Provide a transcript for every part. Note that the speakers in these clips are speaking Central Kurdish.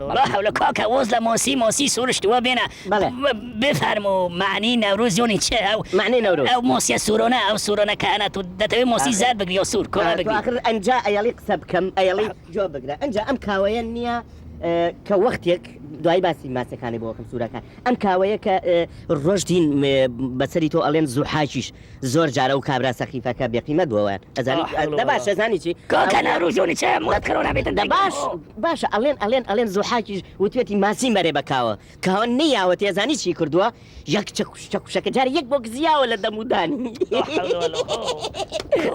لا حول کاکە وەز لە مۆسی مۆسی سورشتوە بێنە بفەرموو مەعنی نەوروز یۆنی چ ئەو مەعنی نەوروز ئەو مۆسیە سورۆنە ئەو سورۆنە کە ئەنە تو دەتەوێ مۆسی زەرد بگری یۆ سور کۆمە بگری تو ئاخر ئەنجا ئەیەڵی قسە بکەم ئەیەڵی جۆ بگرە ئەنجا ئەم کاوەیە نیە کە وەختێک دوای باسی ماسەکانی بۆکەم سورەکان ئەم کاوەیە کە ڕۆژدین بەسەری تۆ ئەڵێن زوحاکیش زۆر جار ئەو کابرا سەخیفەکە بێ قیمەت بووە ئەزانی دە باشە زانی چی کۆکەنە ڕوژۆنی چێ مڵەت کەرۆنا بێتن دە باش باشە ئەڵێن ئەڵێن ئەڵێن زوحاکیش وتوێتی ماسی مەرێ بە کاوە کاوە نەیاوە تێ زانی چی کردووە یەک چە کوشتە کوشەکە جار یەک بۆ گزیاوە لە دەمودانی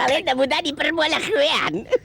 ئەڵێن دەمودانی پڕ بووە لە خوێیان.